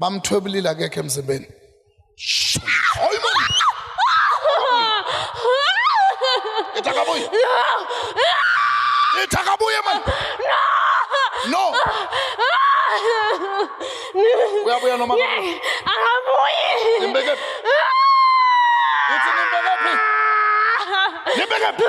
bamthwebulile akekho emzimbeni itakabuye itakabuye man no uyabuya noma akabuyi imbeke ithi nimbeke phi nimbeke phi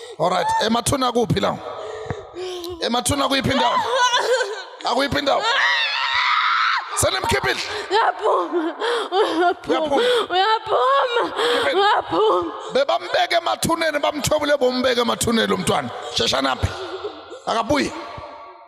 Alright, emathuna kuphi la? Emathuna kuyiphi indawo? Akuyiphi indawo? Senimkhiphile. Uyaphuma. Uyaphuma. Uyaphuma. Uyaphuma. Bebambeke emathuneni bamthobule bombeke emathuneni lomntwana. Shesha naphi? Akabuye.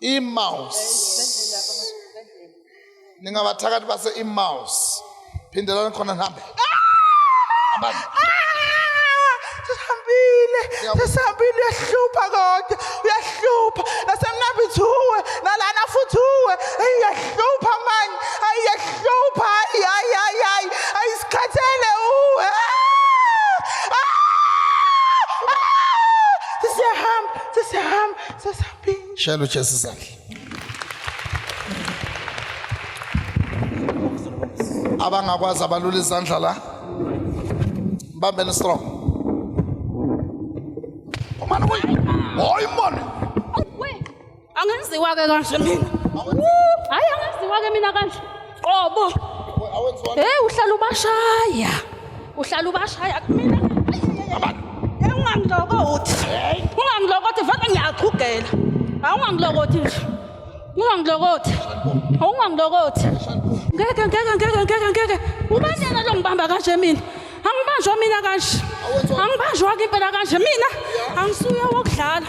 Emmaus. Ningabathakathi base Emmaus. Phindelani khona nihambe. Hambani. sihambile sesihambile uyahlupha kodwa uyahlupha nasemnabithuwe nalana futhi uwe eyi uyahlupha mani ayi uyahlupha ayi ayi ayi ayi ayi sikhathele uwe Ah! Ah! Ah! siyahamba sesiyahamba sesihambile shela ujesu izandla abangakwazi abalula izandla la mbambeni strong umane kuyi hoyi mone angenziwa ke kanje mina hayi angenziwa ke mina kanje qobo hey uhlala ubashaya uhlala ubashaya kumina hey ungangilokothi ungangilokothi vele ngiyaqhugela hayi ungangilokothi nje ungangilokothi ungangilokothi ngeke ngeke ngeke ngeke ngeke ubani yena lo ngibamba kanje mina angibanjwa mina kanje angibanjwa ke impela kanje mina angisuye wokudlala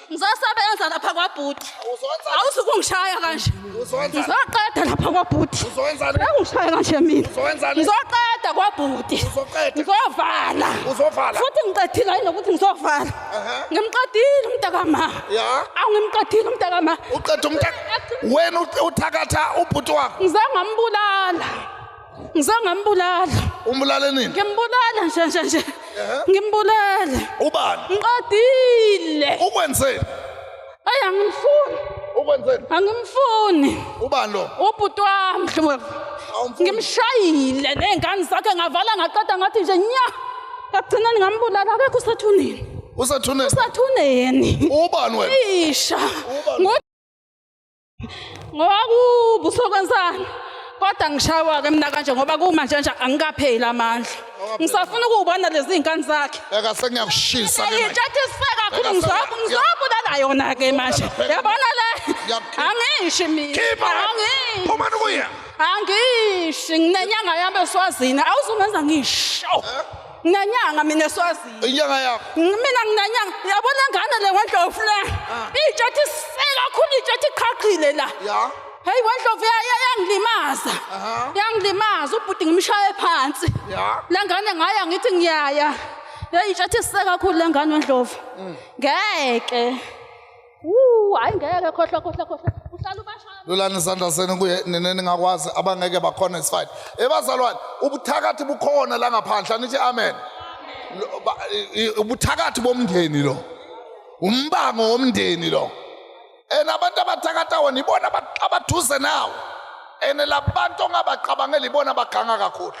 ngizosebenza lapha kwabhuti Uzonza- awusuke ungishaya kanje Uzonza- ngizoqeda lapha kwabhuti Uzonza- engishaya kanje mina Uzonza- ngizoqeda kwabhuti Uzoqeda. ngizovala Uzovala. futhi ngiqedile yini nokuthi ngizovala Aha. ngimqedile umntakama Ya. awu ngimqedile umntakama uqeda umtha wena uthakatha ubhuti wakho ngize ngambulala ngizange ngambulala umbulale nini ngimbulala nje nje nje ngimbulala ubani ngiqedile ukwenzeni ayi angimfuni ukwenzeni angimfuni ubani lo ubhuti wami mhlawumbe Awumfuni? ngimshayile ney'ngane zakhe ngavala ngaqeda ngathi nje nya ekugcineni ngambulala akekho usathuneni usathuneni usathuneni ubani wena isha Ubani? Ngo- ngoba kubu sokwenzani kodwa ngishawa ke mina kanje ngoba kumanje nje angikapheli amandla ngisafuna ukubona lezi zinkani zakhe beka sengiyakushisa ke manje ngithi sifa kakhulu ngizobu ngizobulala yona ke manje yabona le angishi mina angishi phuma kuya angishi nginenyanga yami eswazini awuzungenza ngisho eh? nginenyanga mina esiwaziyo inyanga yakho mina nginenyanga yabona ngane le wendlovu le ah. itsha ethi se kakhulu itsha ethi qhaqhile la ya heyi wendlovu yangilimaza yangilimaza ubhuti ngimshaye phansi le ngane ngaya ngithi ngiyaya yeyi itsha ethi se kakhulu le ngane wendlovu mm. ngeke Wuu, hayi ngeke khohlwa khohlwa khohlwa. Uhlala ubashaya. lulani izandla zenu kuye nina ningakwazi abangeke bakhona is fine ebazalwane ubuthakathi bukhona la ngaphandle anithi amen Lo- ba- i- i- ubuthakathi bomndeni lo umbango womndeni lo and abantu abathakatha wona ibona aba- abaduze nawo and labantu ongabacabangeli ibona abaganga kakhulu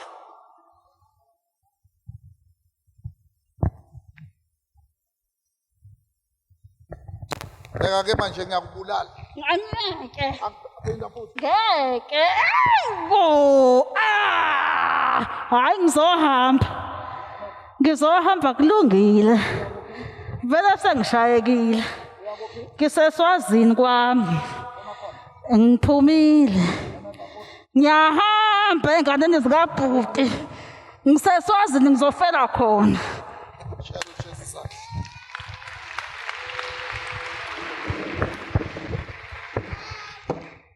Bheka ke manje ngiyakubulala. Ngeke. Angiphinda futhi. Ngeke. Ewu. Ah! Hayi ngizohamba. Ngizohamba kulungile. Vele sengishayekile. Ngiseswazini kwami. Ngiphumile. Ngiyahamba enganeni zikabhuti. ngiseswazini ngizofela khona